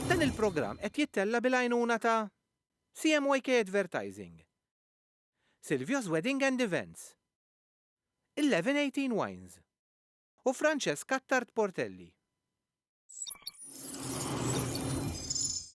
Dan il-programm qed jittella' bil-għajnuna ta' CMYK Advertising, Silvio's Wedding and Events, Eleven Eighteen Wines u Francesca Attard Portelli.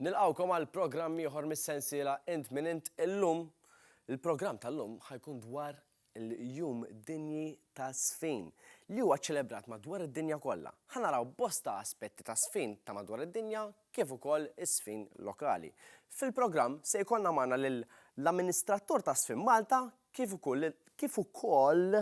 Nilqgħukom għal programm ieħor mis-sensiela Int Min Int illum. Il-programm tal-lum ħa jkun dwar il-Jum Dinji taż-Żfin li huwa ċċelebrat madwar id-dinja kollha. Ħa naraw bosta aspetti taż-żfin ta' madwar id-dinja kif ukoll iż-żfin lokali. Fil-programm se jkollna magħna lill-Amministratur ta' Żfin Malta kif ukoll lil kif ukoll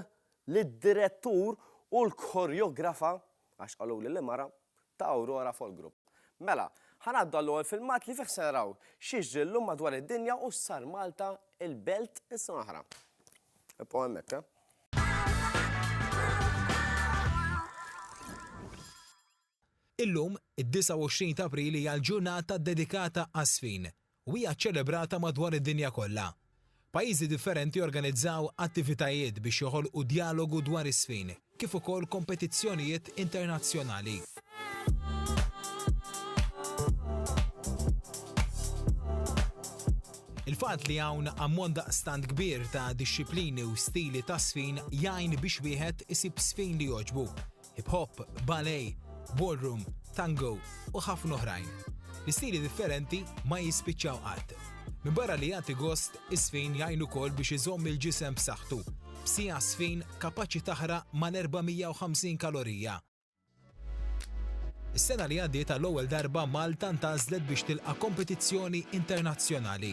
lid-Direttur u l-Koreografa, għax qaluli li mara, ta' Aurora Folk Group. Mela, ħa ngħaddu għall-ewwel filmat li fih se naraw x'jiġri llum madwar id-dinja u x'sar Malta il-belt is-sena l-oħra. Ibqgħu hemmhekk, eh. Illum, id-29 t'April hija l-ġurnata ddedikata għaż-żfin. u hija ċċelebrata madwar id-dinja kollha. Pajjiżi differenti organizzaw attivitajiet biex joħolqu djalogu dwar is-sfin, kif ukoll kompetizzjonijiet internazzjonali. Il-fatt li hawn ammont daqstant kbir ta' dixxiplini u stili ta' sfin jgħin biex wieħed isib sfin li jogħġbu. hip hop, ballet, ballroom, tango u ħafna oħrajn. L-istili differenti ma jispiċċaw qatt. Minn barra li jagħti gost, is-sfin jgħinu kol biex iżomm il-ġisem b'saħħtu. B'sija sfin kapaċi taħra mal-450 kalorija. Is-sena li għaddiet għall-ewwel darba Malta ntażlet biex tilqa' kompetizzjoni internazzjonali.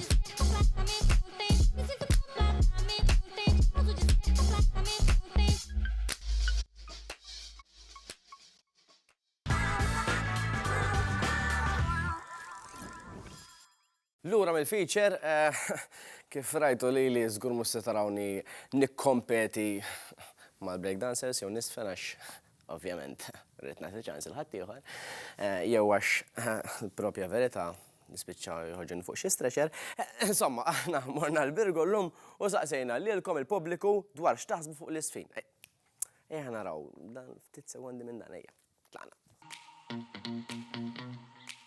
Lura mill-feature, eh, kif rajtu li li zgur mus tarawni nikkompeti mal-breakdancers jew nisfen għax Ovvjament, rrid nagħti ċans il ħaddieħor, jew għax l-propja verità nispiċċa jħoġġen fuq xi stretcher. Insomma, aħna morna l-Birgu llum u saqsejna lilkom il-pubbliku dwar x'taħsbu fuq l-isfin. Ejja naraw dan ftit sekondi minn dan ejja. Tlaqna.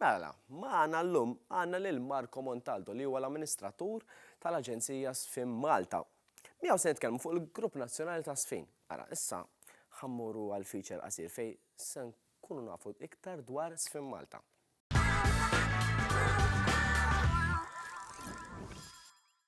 Mela, magħna llum għandna lil Marco Montaldo li huwa l-amministratur tal-Aġenzija Sfin Malta. Miegħu se nitkellmu fuq il-Grupp Nazzjonali ta' Sfin. Ara, issa ħa mmorru għal feature qasir fejn se nkunu nafu iktar dwar Sfin Malta.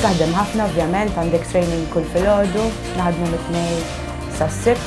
Taħdem ħafna ovvjament għandek training kull filgħodu, naħdmu mit-tnejn sas-sibt,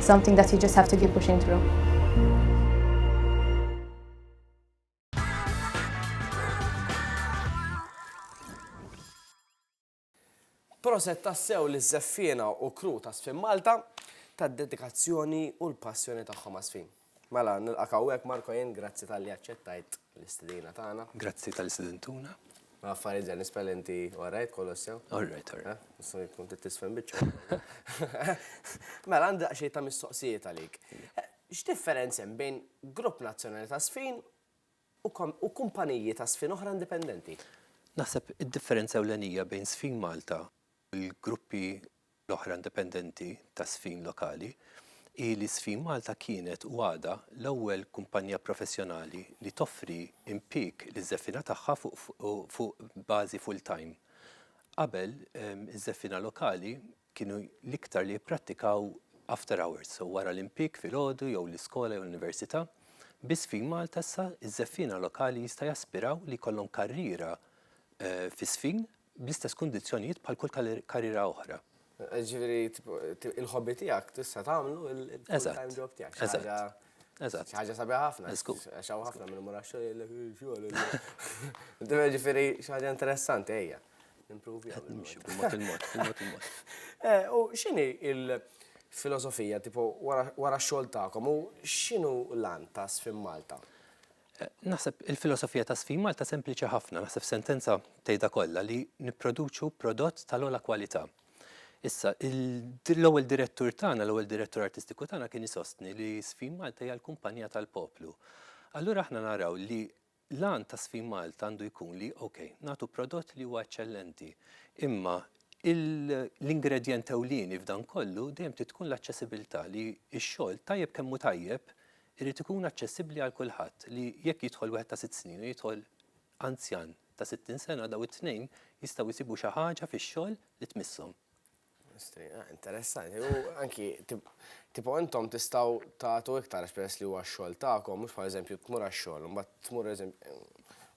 something that you just have to keep pushing through. Proset tassew li żeffiena u kru ta' Sfin Malta tad-dedikazzjoni u l-passjoni tagħhom għas-Sfin. Mela, nilqak hawnhekk Marco jien, grazzi talli aċċettajt l-istedina tagħna. Grazzi talli stedintuna. Ma affarijiet ġen nispel inti all right kollox sew? All right, all right. Nissu jkun titisfem biċċa. Mela għandi daqsxejn ta' mistoqsijiet għalik. X'differenza hemm bejn grupp nazzjonali ta' sfin u kumpaniji ta' sfin oħra indipendenti? Naħseb id-differenza ewlenija bejn Sfin Malta u l-gruppi l-oħra indipendenti ta' Sfin lokali, hi li Sfin Malta kienet u għadha l-ewwel kumpanija professjonali li toffri impieg liż-żeffiena tagħha fuq bażi full-time. Qabel, iż-żeffiena lokali kienu l-iktar li jipprattikaw after hours, wara l-impieg filgħodu jew l-iskola jew l-università. Bi Sfin Malta issa, iż-żeffiena lokali jista' jaspiraw li jkollhom karriera fi Sfin, bl-istess kundizzjonijiet bħal kull karriera oħra. Ġifieri il-hobby tiegħek tista' tagħmlu il-full-time job tiegħek. Eżatt. Eżatt. Xi ħaġa sabiħa ħafna. Żgur. Għax hawn ħafna minn mura xogħol. Ġifieri xi ħaġa interessanti ejja. Nimprovi. Qed nimxi b'mod il-mod, b'mod il-mod. U x'inhi l-filosofija tipo wara x-xogħol tagħkom u x'inhu l-għan ta' Sfin Malta? Naħseb il-filosofija ta' Sfin Malta sempliċi ħafna, naħseb f'sentenza tgħidha kollha li nipproduċu prodott tal-ogħla kwalità. Issa, l-ewwel direttur tagħna, l-ewwel direttur artistiku tagħna kien isostni li Sfin Malta hija l-kumpanija tal-poplu. Allura aħna naraw li l-għan ta' Sfin Malta għandu jkun li, ok, nagħtu prodott li huwa eċċellenti, imma l-ingredjent ewlieni f'dan kollu dejjem trid tkun l-aċċessibilità li x-xogħol tajjeb kemm hu tajjeb Irid ikun aċċessibbli għal kulħadd li jekk jidħol wieħed ta' sitt snin u jidħol anzjan ta' sittin sena dawn it-tnejn jistgħu jsibu xi ħaġa fix-xogħol li tmisshom. Interessanti. U anki tipo intom tistgħu tagħtu iktar għax peress li huwa x-xogħol tagħkom, mhux bħal eżempju tmur għax-xogħol, imbagħad tmur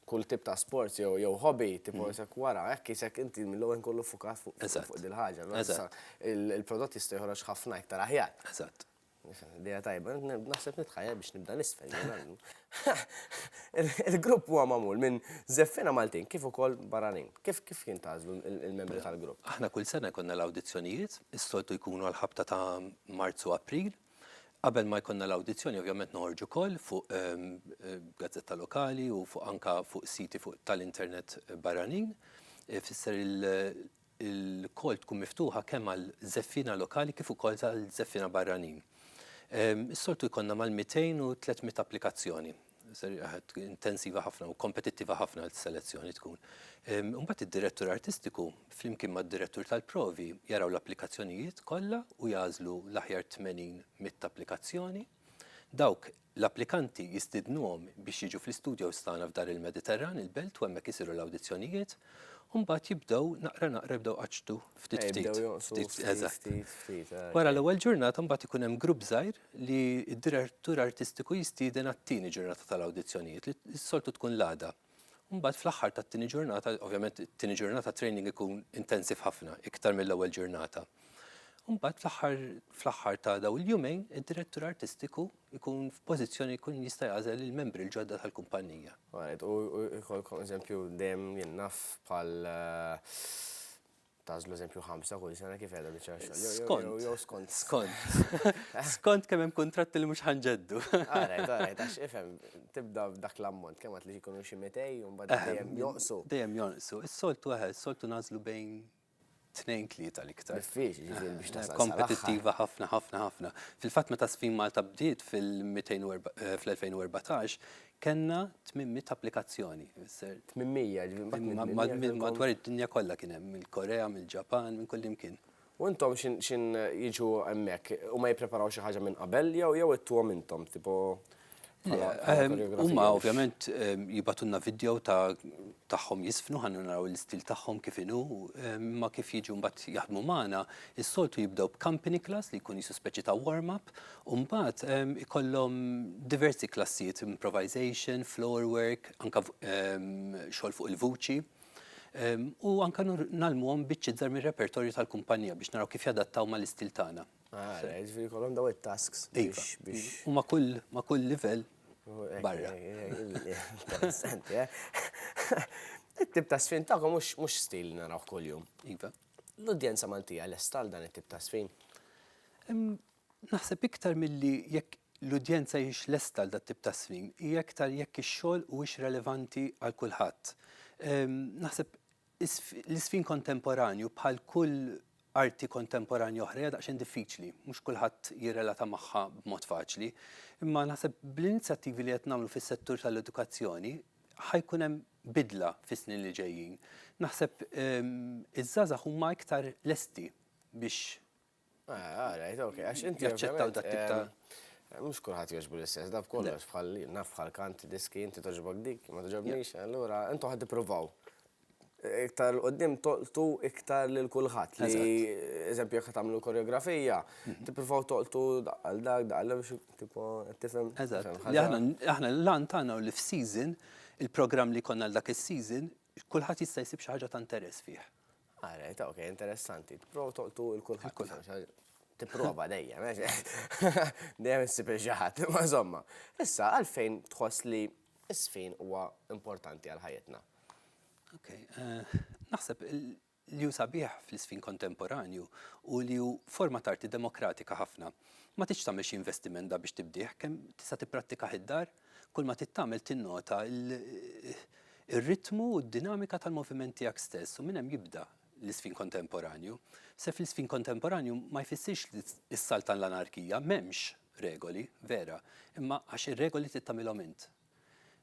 kull tip ta' sports jew jew hobby tipo mm. isek wara, hekk isek inti mill-ewwel kollu fukat fuq dil-ħaġa. Il-prodott jista' joħroġ ħafna iktar aħjar. Eżatt. Idea tajba, naħseb nitħajja biex nibda nisfel. Il-grupp huwa magħmul minn żeffina Maltin kif ukoll barranin. Kif kif jintgħażlu il-membri tal-grupp? Aħna kull sena jkollna l-awdizzjonijiet, is-soltu jkunu l-ħabta ta' Marzu April. Qabel ma jkollna l-awdizzjoni ovvjament noħorġu wkoll fuq ehm, eh, gazzetta lokali u fuq anka fuq siti fuq tal-internet barranin. Eh, fisser ilkoll tkun miftuħa kemm għal żeffiena lokali kif ukoll għal żeffiena barranin. Is-soltu jkollna mal-200 u 300 applikazzjoni. Intensiva ħafna u kompetittiva ħafna l-selezzjoni tkun. Imbagħad id-direttur artistiku flimkien mad-direttur tal-provi jaraw l-applikazzjonijiet kollha u jagħżlu l-aħjar 80 mitt applikazzjoni. Dawk l-applikanti jistiednuhom biex jiġu fl-istudjows tagħna f'Dar il-Mediterran, il-Belt u hemmhekk isiru l-awdizzjonijiet u mbagħad jibdew naqra naqra jibdew iqaċċtu ftit ftit. Jibdew jonqsu ftit ftit. Eżatt. Ftit ftit. Wara l-ewwel ġurnata mbagħad ikun hemm grupp żgħir li d-direttur artistiku jistieden għat-tieni ġurnata tal-awdizzjonijiet li s-soltu tkun l-għada. Mbagħad fl-aħħar tat-tieni ġurnata, ovvjament it-tieni ġurnata training ikun intensiv ħafna, iktar mill-ewwel ġurnata. Mbagħad fl-aħħar fl-aħħar ta' daw il-jumejn, id-direttur artistiku jkun f'pożizzjoni jkun jista' jagħżel il-membri l-ġodda tal-kumpannija. Right, u jkollkom eżempju dejjem jien naf bħal Tagħżlu eżempju ħamsa kull sena kif qiegħda biċċa xogħol. Jew- jew- Skont. jew- jew skont. Skont. Skont kemm hemm kuntratti li mhux ħanġeddu. Alright, alright, għax ifhem, tibda b'dak l-ammont, kemm għad li jkunu xi 200 u mbagħad Eħe, dejjem jonqsu. Dejjem jonqsu. Is-soltu eħe, is-soltu nagħżlu bejn tnejn tlieta l-iktar. Diffiċli ġifieri biex tasal sal-aħħar. Kompetittiva ħafna, ħafna, ħafna. Fil-fatt meta Sfin Malta bdiet fil-200 u erba- eh, fl-2014, Kellna 800 applikazzjoni. 800, ġifieri. Madwar id-dinja kollha kien hemm, mill-Korea, mill-Ġapan, minn kullimkien. U intom x'in jiġu hemmhekk? Huma jippreparaw xi ħaġa minn qabel jew jew ittuhom intom, tipo bħala koreografija? Huma ovvjament jibgħatulna vidjow ta' tagħhom jiżfnu ħalli naraw l-istil tagħhom kif inhu, imma kif jiġu mbagħad jaħdmu magħna, is-soltu jibdew b'company class li jkun qisu speċi ta' warm-up U mbagħad ikollhom diversi klassijiet, improvisation, floor work, anka xogħol fuq il-vuċi. U anka nalmuhom biċċiet żgħar mir-repertorju tal-kumpanija biex naraw kif jadattaw mal-istil tagħna. Ah, ġifieri jkollhom daw it-tasks biex. U ma' kull ma' kull livell barra. Interessanti, eh? It-tip ta' sfin tagħkom mhux stil naraw kuljum. Iva. L-udjenza Maltija lesta għal dan it-tip ta' sfin? Naħseb iktar milli jekk l-udjenza hijiex lesta għal dat-tip ta' swim, hija iktar jekk ix-xogħol huwiex relevanti għal kulħadd. Naħseb l-iswim kontemporanju bħal kull arti kontemporanja oħra hija daqsxejn diffiċli, mhux kulħadd jirrelata magħha b'mod faċli. Imma naħseb bl-inizjattivi li qed nagħmlu fis-settur tal-edukazzjoni ħa jkun hemm bidla fis-snin li ġejjin. Naħseb iż-żgħażagħ huma iktar lesti biex Għarajt, ah, ok, għax inti. Jaċċettaw dat tip ta' Mux kullħat joġbu l-istess, daf kollox bħal naf bħal kant diski inti toġbok dik, ma toġobnix, allura intu ħad provaw. Iktar l-qoddim toqtu iktar lil kulħadd li eżempju jekk tagħmlu koreografija, mhm. tippruvaw toqtu għal dak daqal biex tipo tifhem. Eżatt. Aħna l-lan tagħna li f'season il-programm li konna l dak is-season kulħadd jista' jsib xi ħaġa ta' interess fih. Ah, right, ok, interessanti. Tipprova toqtu il-kulħadd. Kulħadd. Tipprova dejjem, dejjem issib il-ġaħat, ma zomma. Issa, għalfejn tħoss li isfin huwa importanti għal ħajjitna? Ok, eh, naħseb li ju sabiħ fl-isfin kontemporanju u li ju forma tarti demokratika ħafna. Ma tiċ tagħmel xi investiment da biex tibdih, kemm tista' tipprattika id-dar, Kull ma trid tagħmel tinnota r-ritmu u d-dinamika tal-moviment tiegħek stess u minn hemm jibda l-iżfin kontemporanju. Se fl-iżfin kontemporanju ma jfissirx is-salt għall-anarkija, m'hemmx regoli, vera, imma għax ir-regoli trid tagħmilhom int.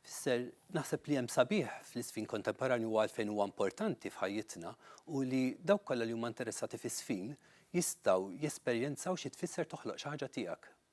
Fisser, naħseb li hemm sabiħ fl-iżfin kontemporanju u għalfejn huwa importanti f'ħajjitna u li dawk kollha li huma interessati f'iżfin jistgħu jesperjenzaw xi tfisser toħloq xi ħaġa tiegħek,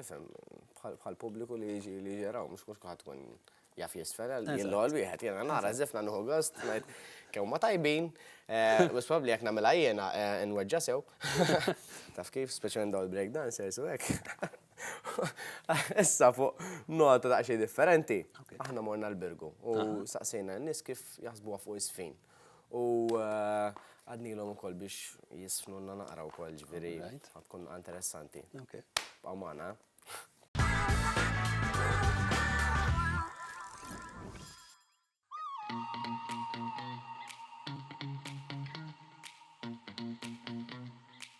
Ifhem, bħall-pubbliku li jiġi li jaraw, mhux mhux kulħadd ikun jaf jisfel, jien l-għol wieħed, jiena nara żifna nħu gost, ngħid kemm ma tajbin, mhux probabbli jekk nagħmilha jiena nweġġa' sew. Taf kif, speċjalment dawn il-break dancers u hekk. Issa fuq nota daqsxejn differenti, aħna morna l-Birgu u staqsejna n-nies kif jaħsbuha fuq iż-żfin. U għadnilhom ukoll biex jisfnulna naqra wkoll ġifieri tkun interessanti. Bqgħu magħna.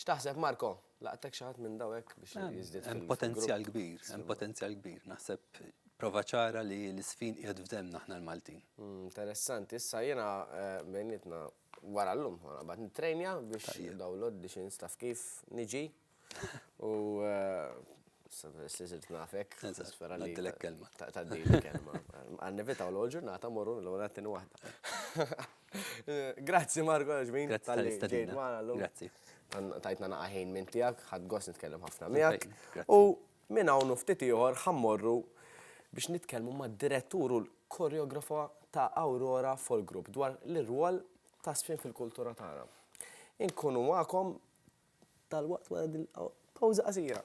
X'taħseb Marco? Laqtek xi ħadd minn dawn hekk biex jiżdied fil-grupp? Hemm potenzjal kbir, hemm potenzjal kbir. Naħseb prova ċara li l-isfin qiegħed f'demmna aħna l-Maltin. Interessanti, issa jiena bejnietna wara llum ħa naqbad nittrejnja biex dawn l-għoddi xi nista' f'kif niġi u issa peress li sirt nafek nispera li tgħaddilek kelma. Tgħaddili kelma. Ħa nevitaw l-ewwel ġurnata mmorru l-ewwel għat-tieni waħda. Grazzi Marko Ġmin. Grazzi tal-istadina. Grazzi. Tajtna naqaħin minn tijak, ħad gos nitkellem ħafna miegħek. U minn hawn ftit ieħor ħammorru biex nitkellmu ma' direttur u l-koreografa ta' Aurora Folk Group dwar l-irwol ta' sfin fil-kultura tagħna. Inkunu magħkom tal-waqt wara din pawża qasira.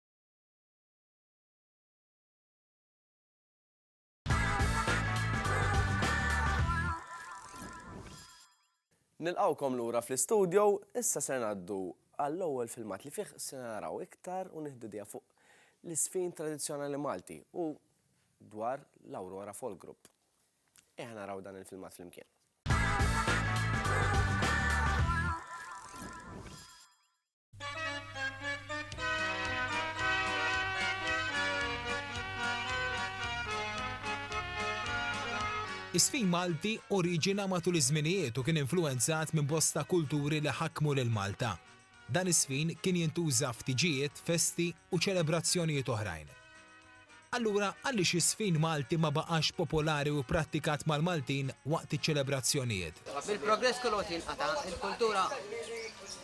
Nilqgħukom lura fl-istudio, issa ser ngħaddu għall-ewwel filmat li fih se naraw iktar u nieħdu idea fuq l-iżfin tradizzjonali Malti u dwar l-Aurora Folk Group. Ejja naraw dan il-filmat flimkien. Is-sfin Malti oriġina matul iż-żminijiet u kien influwenzat minn bosta kulturi li ħakmu lil Malta. Dan is-sfin kien jintuża f'tiġijiet, festi u ċelebrazzjonijiet oħrajn. Allura għaliex iż-żfin Malti ma baqax popolari u pprattikat mal-Maltin waqt iċ-ċelebrazzjonijiet? Bil-progress kull waqt jinqata', il-kultura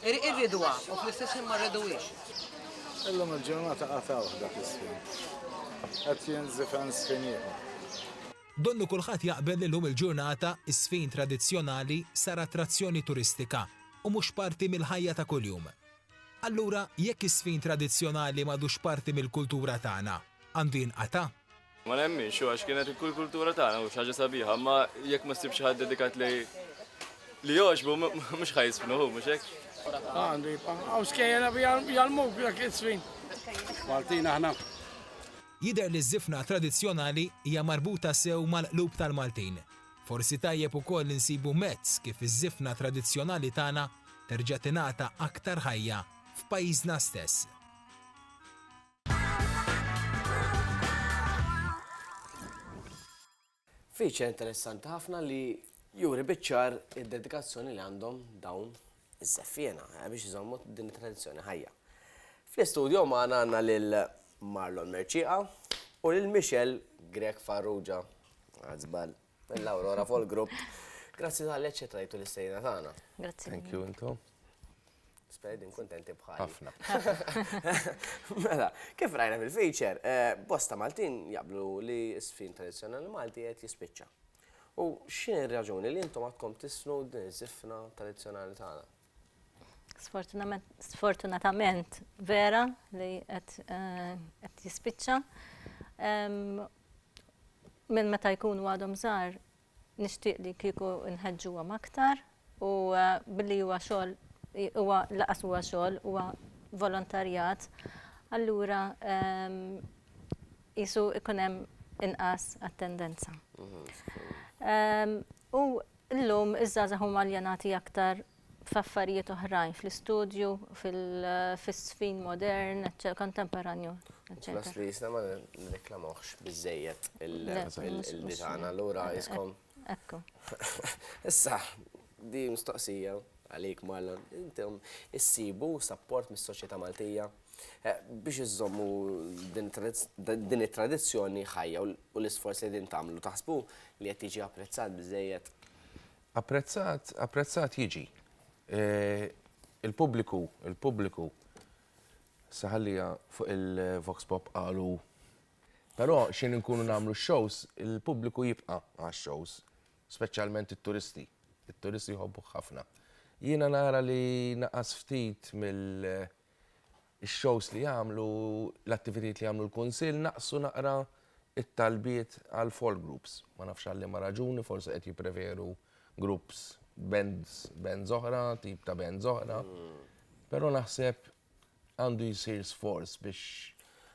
irriduha u fl-istess ħin ma rriduhiex. Illum il-ġurnata qatgħuh dak iż-żfin. Qed jinżifen żfin ieħor. Donnu kulħadd jaqbel li llum il-ġurnata ż-żfin tradizzjonali sar attrazzjoni turistika u mhux parti mill-ħajja ta' kuljum. Allura, jekk iż-żfin tradizzjonali m'għadux parti mill-kultura tagħna, għandu jinqata'? Ma nemminx, u għax kienet kull kultura tagħna u xi ħaġa sabiħa, imma jekk ma ssib xi ħadd dedikat li li jogħġbu mhux ħa jiżfnu hu, mhux hekk? Għandu jibqa'. Hawn skejjel jgħallmuk dak iż-żfin. Maltin aħna. Jidher li ż-żifna tradizzjonali hija marbuta sew mal-qlub tal-Maltin. Forsi tajjeb ukoll insibu mezz kif iż-żifna tradizzjonali tagħna terġa' tingħata aktar ħajja f'pajjiżna stess. Feature interessanti ħafna li juri biċ-ċar id-dedikazzjoni li għandhom dawn iż-żeffiena, biex iżommu din it-tradizzjoni ħajja. Fl-istudio magħna għandna lil Marlon Mercieqa u lil Michelle Grech Farrugia, għad żball, mill-Aurora Folk Group. Grazzi talli aċċettajtu l-istejna tagħna. Grazzi. Thank you intom. Spera din kontenti bħal. Ħafna. Mela, kif rajna fil-feature, eh, bosta Maltin jablu li s-sfin tradizjonali Malti qed jispiċċa. U x'inhi r-raġuni li intom għadkom tisnu din iż-żifna tradizzjonali tagħna? Sfortunatament vera li qed eh, jispiċċa. Minn meta jkunu għadhom żgħar nixtieq li kieku nħeġġuhom aktar u billi huwa xogħol huwa lanqas huwa xogħol huwa volontarjat, allura qisu jkun hemm inqas attendenza. U llum iż-żgħażagħ huma aljenati aktar f'affarijiet oħrajn, fl-istudju, fis-żfin modern, kontemporanju, eċċetera. Fl-istess ħin ma nirreklamawhx biżżejjed il-lingwa tagħna, allura iskom. Ekku. Issa, di mistoqsija għalik Marlon, intom issibu sapport mis-soċjetà Maltija eh, biex iżommu din it-tradizzjoni ħajja u l-isforz li din tagħmlu taħsbu li qed tiġi apprezzat biżejjed? Apprezzat, apprezzat jiġi. Eh, il-pubbliku, il-pubbliku saħallija fuq il-Vox Pop qalu Però xejn inkunu nagħmlu x-shows, il-pubbliku jibqa' għax-shows, speċjalment it-turisti. It-turisti jħobbuh ħafna. Jiena nara li naqas ftit mill-shows li jagħmlu, l-attivitajiet li jagħmlu l-Kunsill, naqsu naqra t-talbiet għal folk groups. Ma nafx għal liema raġuni, forsi qed jippreferu groups, bands oħra, tip ta' bands oħra. Però naħseb għandu jsir sforz biex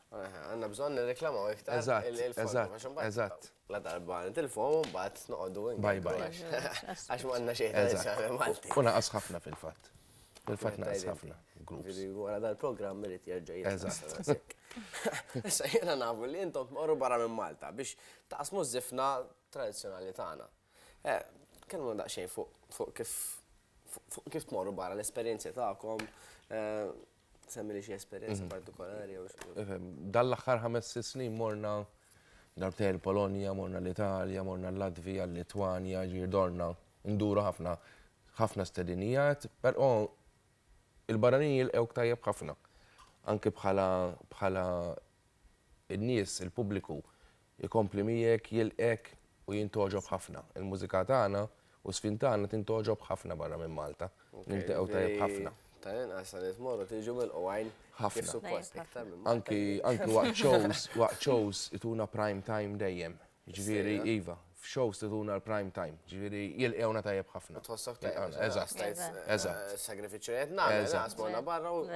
Għanna bżon nirreklamaw iktar. Eżatt, eżatt, eżatt. La darba nitilfom un bat noqdu. Bye bye. Għax ma għanna xejn ta' Malti. Una ħafna fil-fat. Fil-fat naqas ħafna. Għara dal-program irrit jirġa Eżatt. Issa jena nafu li jintom morru barra minn Malta biex taqsmu zifna tradizjonali tagħna. Tkellmuna daqsxejn fuq kif fuq kif tmorru barra l-esperjenzi tagħkom, semmili xi esperjenza partikolari jew xi. Dan l-aħħar ħames sitt snin morna darbtejn il-Polonja, morna l-Italja, morna l-Latvija, l-Litwanja, jiġifieri dorna nduru ħafna ħafna stedinijat, però il-barranin jilqgħuk tajjeb ħafna. Anke bħala bħala n-nies, il-pubbliku, Ikompli miegħek, jilqgħek u jien togħġob ħafna. Il-mużika tagħna u s-żfin tagħna tin togħġob ħafna barra minn Malta. Nilteqgħu tajjeb ħafna. Tal-inqas sa nies morru tiġu milqu għajn kif suppost iktar minn Malta. Anki anki waqt shows waqt shows ituna prime time dejjem. Jiġifieri iva, f'shows tituna l-prime time. Jiġifieri jilqgħuna tajjeb ħafna. U tħossok tajjeb. Eżatt. Eżatt. Sagrifiċċju li qed nagħmel, naqas morna barra u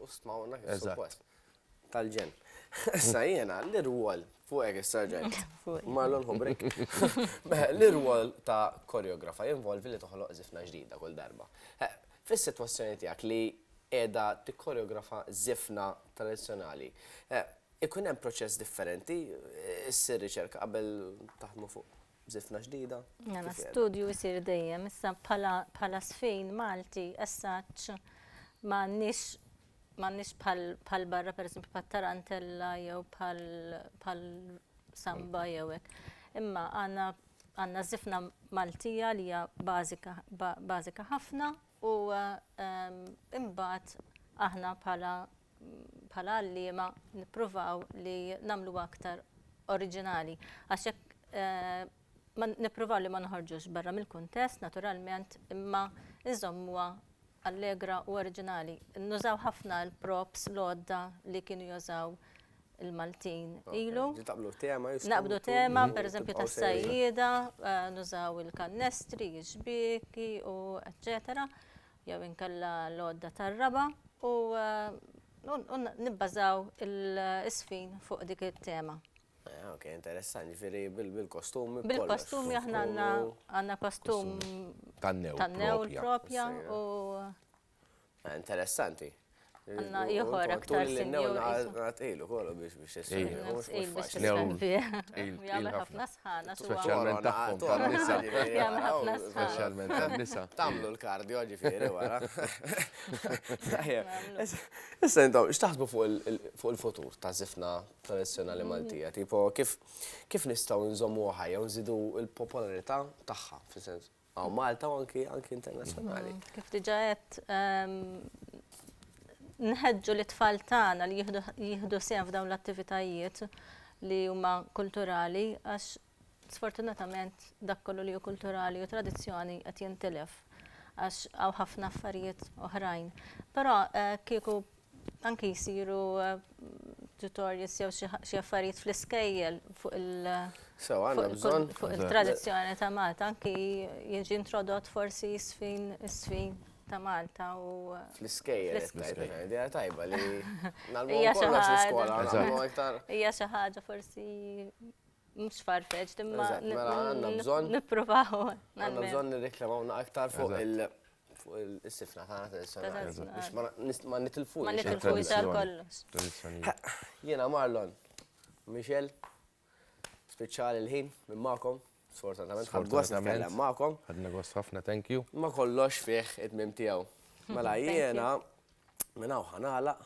u stmawna kif suppost. tal-ġenn. Issa jiena l-irwol fuq hekk is-sarġent Marlon Hubrik. L-irwol ta' koreografa jinvolvi li toħloq zifna ġdida kull darba. Fis-sitwazzjoni tiegħek li qiegħda tikkoreografa zifna tradizzjonali, ikun hemm proċess differenti, issir riċerka qabel taħdmu fuq zifna ġdida? Mela, studju jsir dejjem, issa bħala sfin Malti, essaċ m'għandniex ma' nies bħal barra pereżempju bħat-Tarantella jew bħal Samba jew hekk. Imma għandna żifna Maltija li hija bażika ħafna u imbagħad aħna bħala għalliema nippruvaw li nagħmluha aktar oriġinali. Għax jekk Nippruvaw li ma noħorġux barra mill-kuntest, naturalment, imma nżommuha allegra u oriġinali. Nużaw ħafna l-props, l-għodda li kienu jużaw il-Maltin ilu. Taqbdu tema, jistgħu. Naqbdu tema, pereżempju tas-sajjieda, nużaw il-kannestri, ix-xbieki u eċċetera, jew inkella l-għodda tar-raba', u nibbażaw is-sfin fuq dik it-tema. Ah, ok, interessanti, ġifiri bil-kostumi. Bil-kostumi aħna għanna għanna kostum tan-new propja u. Ah, interessanti. Għanna jħor aktar sinjur. Għat ilu kollu biex biex jessir. Jgħamil ħafna sħana. Specialment taħkom tal-nisa. Jgħamil ħafna sħana. Specialment tal-nisa. Tamlu l-kardio ġifiri wara. Issa jintom, xtaħsbu fuq il-futur ta' zifna tradizzjonali Maltija, tipo kif kif nistgħu nżommuha ħajja u nżidu l-popolarità tagħha, fis-sens għaw Malta u anki anki internazzjonali. Mm, kif diġa qed ehm, nħeġġu li tfal tagħna li jieħdu sehem f'dawn l-attivitajiet li huma kulturali għax Sfortunatament dak kollu li hu kulturali u tradizzjoni qed jintilef għax hawn ħafna affarijiet oħrajn. Però kieku anki jsiru tutorials jew xi affarijiet fl-iskejjel fuq il-tradizzjoni ta' Malta, anki jiġi introdott forsi sfin sfin ta' Malta u. Fl-iskejjel. Idea tajba li. Hija xi ħaġa forsi Mhux farfeġ, imma Eżatt, mela għandna bżonn- nippruvaw. Għandna bżonn nirreklamaw naqra aktar fuq Eżatt. il- fuq il- is-sifna tagħna tradizzjonali. Tradizzjonali. Biex ma na- nis- ma nitilfux. Ma nitilfux għal Tradizzjoni. kollox. Tradizzjonijiet. Jiena Marlon, Michel, spiċċa l-ħin minn magħkom, sfortunatament. Ħadt gost Sfortunatament. nitkellem magħkom. Ħadna gost ħafna, thank you. Ma kollox fih it-tmiem tiegħu. Mela Thank you. jiena minn hawn ħa nagħlaq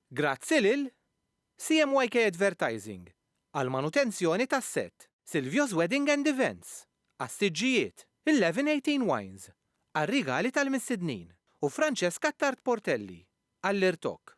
Grazzi lil CMYK Advertising għall-manutenzjoni tas-sett, Silvio's Wedding and Events għas-siġġijiet, Eleven Eighteen Wines għar-rigali tal-mistednin u Francesca Attard Portelli għall-irtokk.